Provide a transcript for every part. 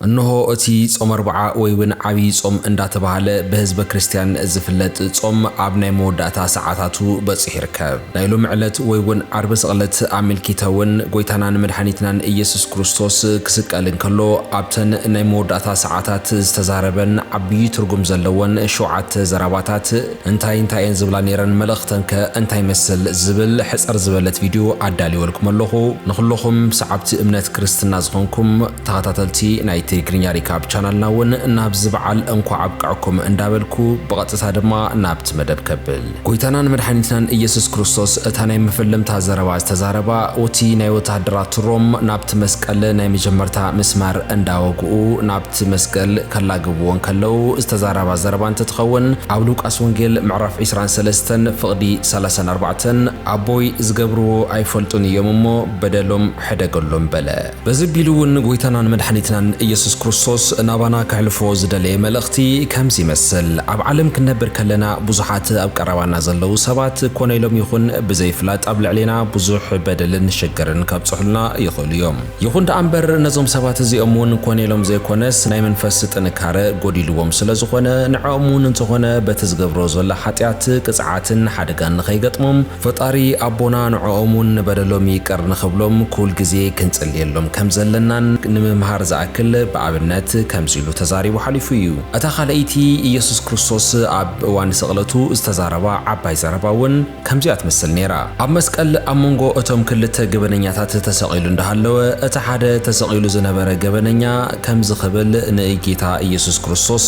እንሆ እቲ ጾም ኣርብዓ ወይውን ዓቢይ ጾም እንዳተባህለ ብህዝበ ክርስትያን ዝፍለጥ ጾም ኣብ ናይ መወዳእታ ሰዓታቱ በጺሑ ይርከብ። ናይ ሎሚ ዕለት ወይውን ዓርቢ ስቕለት ኣመልኪተውን ጎይታናን መድሓኒትናን እየሱስ ክርስቶስ ክስቀል እንከሎ ኣብተን ናይ መወዳእታ ሰዓታት ዝተዛረበን ዓቢይ ትርጉም ዘለወን ሸውዓተ ዘራባታት እንታይ እንታይ እየን ዝብላ ነይረን መልእኽተን ከ እንታይ ይመስል ዝብል ሕጽር ዝበለት ቪድዮ ኣዳልወልኩም ኣለኹ ንኹሎኹም ሰዓብቲ እምነት ክርስትና ዝኾንኩም ተኻታተልቲ ናይ ትሪግርኛ ሪካብ ቻናልና ውን ናብዚ በዓል እንኳዕ ኣብቀዐኩም እንዳበልኩ ብቐጥታ ድማ ናብቲ መደብ ከብል። ጎይታናን መድሓኒትናን ኢየሱስ ክርስቶስ እታ ናይ መፈለምታ ዘረባ ዝተዛረባ ኡቲ ናይ ወተሃደራት ሮም ናብቲ መስቀል ናይ መጀመርታ ምስማር እንዳወግኡ ናብቲ መስገል ከላግብዎ እንከለው ዝተዛራባ ዘረባ እንትትኸውን ኣብ ሉቃስ ወንጌል ምዕራፍ ዕስራን ሰለስተን ፍቕዲ ሰላሳን ኣርባዕተን ኣቦይ ዝገብርዎ ኣይፈልጡን እዮም እሞ በደሎም ሕደገሎም በለ። በዚ ኣቢሉ እውን ንጐይታናን መድሓኒትናን እየሱስ ክርስቶስ ናባና ከሕልፎ ዝደለየ መልእኽቲ ከምዚ ይመስል፣ ኣብ ዓለም ክንነብር ከለና ብዙሓት ኣብ ቀረባና ዘለዉ ሰባት ኮነ ኢሎም ይኹን ብዘይፍላጥ ኣብ ልዕሌና ብዙሕ በደልን ሽግርን ከብጽሑልና ይኽእሉ እዮም። ይኹን ደኣ እምበር ነዞም ሰባት እዚኦም እውን ኮነ ኢሎም ዘይኮነስ ናይ መንፈስ ጥንካረ ጐዲልዎም ስለ ዝኾነ ንዐኦም እውን እንተኾነ በቲ ዝገብርዎ ዘሎ ሓጢኣት ቅጽዓትን ሓደጋን ንኸይገጥሞም ፈጣሪ ኣቦና ንዖኦም ውን ንበደሎም ይቅር ንክብሎም ኩል ግዜ ክንጽልየሎም ከም ዘለናን ንምምሃር ዝኣክል ብኣብነት ከምዚ ኢሉ ተዛሪቡ ሓሊፉ እዩ እታ ካልኣይቲ ኢየሱስ ክርስቶስ ኣብ እዋን ስቅለቱ ዝተዛረባ ዓባይ ዘረባ ውን ከምዚኣ ትመስል ነይራ ኣብ መስቀል ኣብ መንጎ እቶም ክልተ ገበነኛታት ተሰቂሉ እንዳሃለወ እቲ ሓደ ተሰቂሉ ዝነበረ ገበነኛ ከምዚ ክብል ንእጌታ ኢየሱስ ክርስቶስ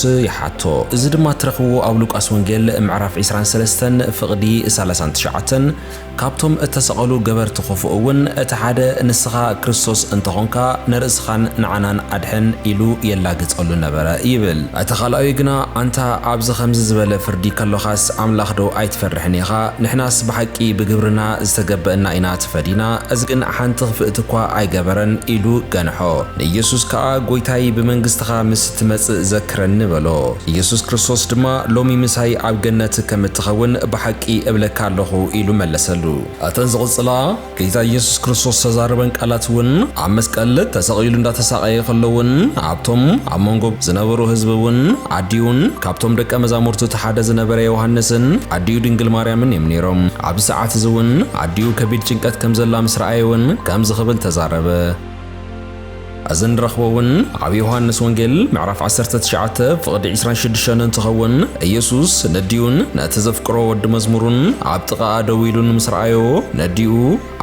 ሕቶ፣ እዚ ድማ እትረኽብዎ ኣብ ሉቃስ ወንጌል ምዕራፍ ዕስራን ሰለስተን ፍቕዲ ሰላሳን ትሽዓተን ካብቶም እተሰቐሉ ገበርቲ ኽፉእ እውን እቲ ሓደ ንስኻ ክርስቶስ እንተ ዀንካ ንርእስኻን ንዓናን ኣድሕን ኢሉ የላግጸሉ ነበረ ይብል። እቲ ኻልኣዩ ግና ኣንታ ኣብዚ ኸምዚ ዝበለ ፍርዲ ከሎኻስ ኣምላኽዶ ኣይትፈርሕን ኢኻ? ንሕናስ ብሓቂ ብግብርና ዝተገበእና ኢና ተፈዲና፣ እዚ ግን ሓንቲ ኽፍእቲ እኳ ኣይገበረን ኢሉ ገንሖ። ንኢየሱስ ከኣ ጐይታይ ብመንግስትኻ ምስ እትመጽእ ክረኒ በሎ። ኢየሱስ ክርስቶስ ድማ ሎሚ ምሳይ ኣብ ገነት ከም እትኸውን ብሓቂ እብለካ ኣሎኹ ኢሉ መለሰሉ። እተን ዝቕጽላ ጌታ ኢየሱስ ክርስቶስ ዝተዛረበን ቃላት እውን ኣብ መስቀል ተሰቒሉ እንዳተሳቐየ ከሎ እውን ኣብቶም ኣብ መንጎ ዝነበሩ ህዝቢ እውን ኣዲኡን ካብቶም ደቀ መዛሙርቱ እቲ ሓደ ዝነበረ ዮሃንስን ኣዲኡ ድንግል ማርያምን እዮም ነይሮም። ኣብዚ ሰዓት እዚ እውን ኣዲኡ ከቢድ ጭንቀት ከም ዘላ ምስ ረኣየ እውን ከምዚ ክብል ተዛረበ። እዚ ንረኽቦ እውን ኣብ ዮሃንስ ወንጌል ምዕራፍ ዓሰርተ ትሽዓተ ፍቕዲ ዕስራን ሽዱሽተን እንትኸውን ኢየሱስ ነዲኡን ነቲ ዘፍቅሮ ወዲ መዝሙሩን ኣብ ጥቓኣ ደው ኢሉን ምስ ረኣዮ ነዲኡ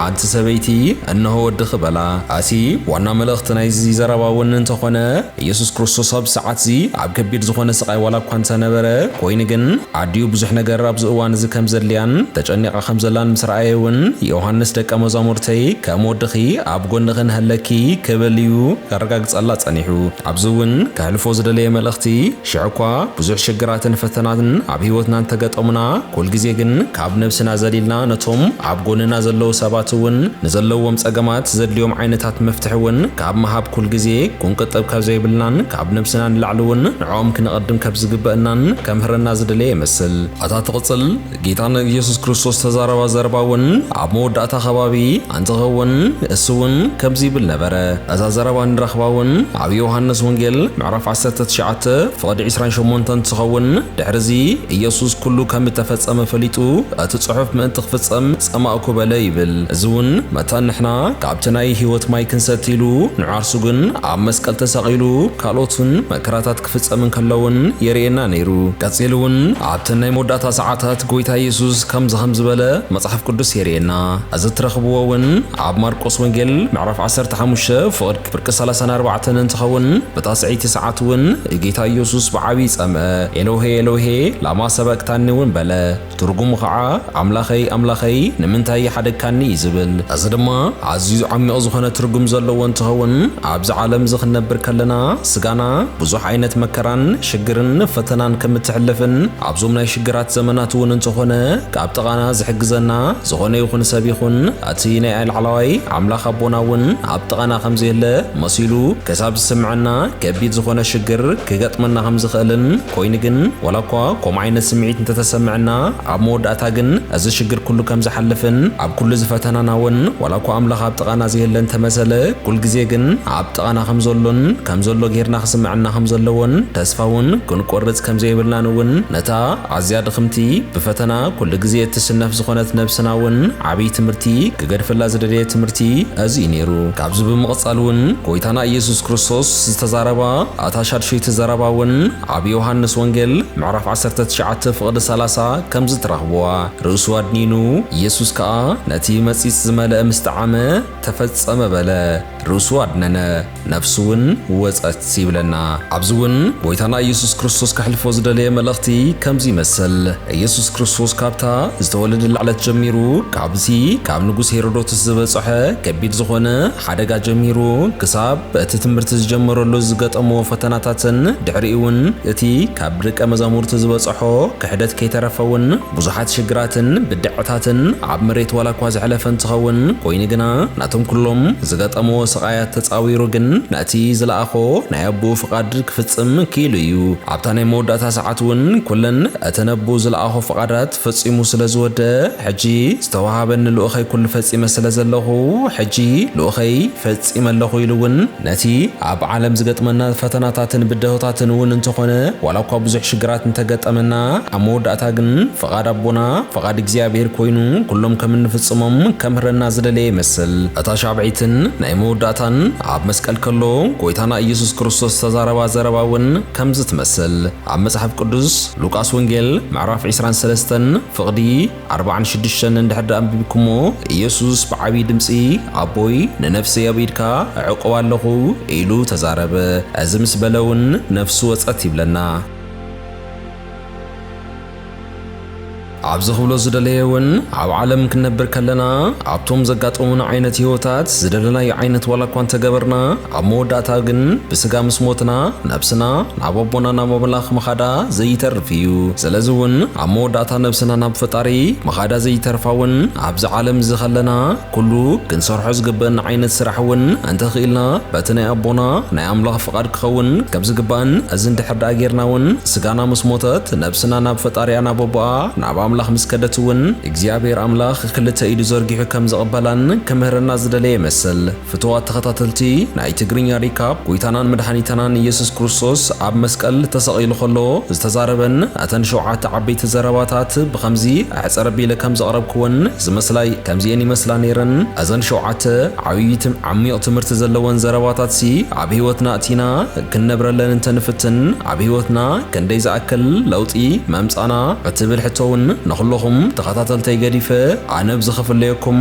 ኣንቲ ሰበይቲ እነሆ ወድኺ በላ። እቲ ዋና መልእኽቲ ናይዚ ዘረባ እውን እንተኾነ ኢየሱስ ክርስቶስ ኣብዚ ሰዓት እዚ ኣብ ከቢድ ዝኾነ ስቓይ ዋላ እኳ እንተነበረ ኮይኑ ግን ኣዲኡ ብዙሕ ነገር ኣብዚ እዋን እዚ ከም ዘድልያን ተጨኒቓ ከም ዘላን ምስ ረኣየ እውን ዮሃንስ ደቀ መዛሙርተይ ከም ወድኺ ኣብ ጎንኺ ንሀለኪ ክብል እዩ ከረጋግጸላ ጸኒሑ። ኣብዚ እውን ከሕልፎ ዝደለየ መልእኽቲ ሽሕ እኳ ብዙሕ ሽግራትን ፈተናን ኣብ ህይወትና እንተገጠሙና ኩል ግዜ ግን ካብ ነብስና ዘሊልና ነቶም ኣብ ጎንና ዘለዉ ሰባት እውን ንዘለዉዎም ጸገማት ዘድልዮም ዓይነታት መፍትሒ እውን ካብ ምሃብ ኩል ግዜ ኩንቅጥብ ከብዘይብልናን ካብ ነብስና ንላዕሊ እውን ንዕኦም ክነቐድም ከብዝግበእናን ከምህረና ዝደለየ ይመስል። ኣታ ትቕጽል ጌታ ንኢየሱስ ክርስቶስ ዝተዛረባ ዘረባ እውን ኣብ መወዳእታ ከባቢ ኣንትኸውን እሱ እውን ከምዚ ይብል ነበረ። እዛ ዘረባ እንረኽባ እውን ኣብ ዮሃንስ ወንጌል ምዕራፍ ዓሰርተ ትሽዓተ ፍቕዲ ዕስራን ሸሞንተን እንትኸውን ድሕርዚ ኢየሱስ ኩሉ ከም እተፈጸመ ፈሊጡ እቲ ጽሑፍ ምእንቲ ክፍጸም ጸማእኩ በለ ይብል። እዚ እውን መታን ንሕና ካብቲ ናይ ሕይወት ማይ ክንሰቲ ኢሉ ንዓርሱ ግን ኣብ መስቀል ተሰቒሉ ካልኦት እውን መከራታት ክፍጸም እንከሎ እውን የርእየና ነይሩ። ቀጺሉ እውን ኣብተን ናይ መወዳእታ ሰዓታት ጎይታ የሱስ ከምዚ ከም ዝበለ መጽሓፍ ቅዱስ የርእየና። እዚ እትረኽብዎ እውን ኣብ ማርቆስ ወንጌል ምዕራፍ ዓሰርተ ሓሙሽተ ፍቕድ ፍርቂ ሰላሳን ኣርባዕተን እንትኸውን ብታስዐይቲ ሰዓት እውን ጌታ የሱስ ብዓቢይ ጸምአ ኤሎሄ ኤሎሄ ላማ ሰበቅታኒ እውን በለ። ትርጉሙ ኸዓ ኣምላኸይ ኣምላኸይ ንምንታይ ይሓደግካኒ እዩ ዝብል። እዚ ድማ ኣዝዩ ዓሚቕ ዝኾነ ትርጉም ዘለዎ እንትኸውን ኣብዚ ዓለም እዚ ክንነብር ከለና ስጋና ብዙሕ ዓይነት መከራን ሽግርን ፈተናን ከም እትሕልፍን ኣብዞም ናይ ሽግራት ዘመናት እውን እንተኾነ ካብ ጥቓና ዝሕግዘና ዝኾነ ይኹን ሰብ ይኹን እቲ ናይ ላዕላዋይ ኣምላኽ ኣቦና እውን ኣብ ጥቓና ከም ዘየለ መሲሉ ክሳብ ዝስምዐና ከቢድ ዝኾነ ሽግር ክገጥመና ከም ዝኽእልን ኮይኑ ግን ዋላ እኳ ከምኡ ዓይነት ስምዒት እንተተሰመዐና ኣብ መወዳእታ ግን እዚ ሽግር ኩሉ ከም ዝሓልፍን ኣብ ኩሉ እዚ ፈተናና ውን ዋላ እኳ ኣምላኽ ኣብ ጥቓና ዘየለ እንተመሰለ ኩል ግዜ ግን ኣብ ጥቓና ከም ዘሎን ከም ዘሎ ጌርና ክስመዐና ከም ዘለዎን ተስፋ ውን ክንቆርጽ ከም ዘይብልናን ውን ነታ ኣዝያ ድኽምቲ ብፈተና ኩሉ ግዜ እትስነፍ ዝኾነት ነብስና ውን ዓብይ ትምህርቲ ክገድፈላ ዝደለየ ትምህርቲ እዚ እዩ ኔሩ። ካብዚ ብምቕጻል ውን ጎይታና ኢየሱስ ክርስቶስ ዝተዛረባ እታ ሻድሸይቲ ዘረባ እውን ኣብ ዮሃንስ ወንጌል ምዕራፍ ዓሰርተ ትሽዓተ ፍቕዲ ሰላሳ ከምዚ ትረኽብዋ፣ ርእሱ ኣድኒኑ፣ ኢየሱስ ከኣ ነቲ መጺጽ ዝመልአ ምስ ጠዓመ፣ ተፈጸመ በለ፣ ርእሱ ኣድነነ፣ ነፍሱ እውን ወጸት ይብለና። ኣብዚ እውን ጐይታና ኢየሱስ ክርስቶስ ከሕልፎ ዝደለየ መልእኽቲ ከምዚ ይመስል፣ ኢየሱስ ክርስቶስ ካብታ ዝተወለደላ ዕለት ጀሚሩ ካብቲ ካብ ንጉስ ሄሮዶትስ ዝበጸሖ ከቢድ ዝኾነ ሓደጋ ጀሚሩ ክሳብ በቲ ትምህርቲ ዝጀመረሉ ዝገጠሞ ፈተናታትን ድሕሪኡ'ውን እቲ ካብ ደቀ መዛሙርቲ ዝበጸሖ ክሕደት ከይተረፈ'ውን ብዙሓት ሽግራትን ብድዐታትን ኣብ መሬት ዋላኳ ዘሕለፈ እንትኸውን ኮይኑ ግና ናቶም ኩሎም ዝገጠምዎ ስቓያት ተጻዊሩ ግን ነቲ ዝለኣኾ ናይ ኣቦኡ ፍቓድ ክፍጽም ክኢሉ እዩ። ኣብታ ናይ መወዳእታ ሰዓት'ውን ኩለን እተን ኣቦኡ ዝለኣኾ ፍቓዳት ፈጺሙ ስለ ዝወደ ሕጂ ዝተወሃበኒ ልኡኸይ ኩሉ ፈጺመ ስለ ዘለኹ ሕጂ ልኡኸይ ፈጺመ ኣለኹ ኢሉ እውን ነቲ ኣብ ዓለም ዝገጥመና ፈተናታትን ብደሆታትን እውን እንተኾነ ዋላ እኳ ብዙሕ ሽግራት እንተገጠመና ኣብ መወዳእታ ግን ፍቓድ ኣቦና ፍቓድ እግዚኣብሔር ኮይኑ ኩሎም ከም እንፍጽሞም ከምህረና ዝደለየ ይመስል። እታ ሻብዒትን ናይ መወዳእታን ኣብ መስቀል ከሎ ጎይታና ኢየሱስ ክርስቶስ ዝተዛረባ ዘረባ እውን ከምዚ ትመስል ኣብ መጽሓፍ ቅዱስ ሉቃስ ወንጌል ምዕራፍ ዕስራን ሰለስተን ፍቕዲ ኣርብዓን ሽዱሽተን እንድሕር ደኣ ኣንቢብኩሞ ኢየሱስ ብዓብዪ ድምጺ ኣቦይ ንነፍሰይ ኣብ ኢድካ እዕቁባ ኣለኹ ኢሉ ተዛረበ። እዚ ምስ በለ እውን ነፍሱ ወጸት ይብለና። ኣብዚ ክብሎ ዝደለየ እውን ኣብ ዓለም ክንነብር ከለና ኣብቶም ዘጋጠሙና ዓይነት ህይወታት ዝደለናዮ ዓይነት ዋላ እኳ እንተገበርና ኣብ መወዳእታ ግን ብስጋ ምስ ሞትና ነብስና ናብ ኣቦና ናብ ኣምላኽ ምኻዳ ዘይተርፍ እዩ። ስለዚ ውን ኣብ መወዳእታ ነብስና ናብ ፈጣሪ ምኻዳ ዘይተርፋ ውን ኣብዚ ዓለም እዚ ከለና ኩሉ ክንሰርሖ ዝግበእና ዓይነት ስራሕ ውን እንተ ኺኢልና በቲ ናይ ኣቦና ናይ ኣምላኽ ፍቃድ ክኸውን ከም ዝግባእን እዚ እንድሕር ደኣ ጌርና ውን ስጋና ምስ ሞተት ነብስና ናብ ፈጣሪኣ ናብ ኣቦኣ ናብ ኣምላኽ ምስ ከደት ውን እግዚኣብሔር ኣምላኽ ክልተ ኢዱ ዘርጊሑ ከም ዝቅበላን ክምህረና ዝደለየ ይመስል። ፍቱዋት ተኸታተልቲ ናይ ትግርኛ ሪካፕ ጎይታናን መድሓኒታናን ኢየሱስ ክርስቶስ ኣብ መስቀል ተሰቒሉ ከሎ ዝተዛረበን እተን ሸውዓተ ዓበይቲ ዘረባታት ብኸምዚ ኣሕጽር ኣቢለ ከም ዘቕረብክወን ዝመስላይ ከምዚኤን ይመስላ ነይረን እዘን ሸውዓተ ዓብይ ዓሚቕ ትምህርቲ ዘለወን ዘረባታትሲ ኣብ ህይወትና ኣእቲና ክንነብረለን እንተ ንፍትን ኣብ ህይወትና ክንደይ ዝኣክል ለውጢ መምጻና እትብል ሕቶውን ንኹሎኹም ተኸታተልተይ ገዲፈ ኣነ ብዝኽፍለየኩም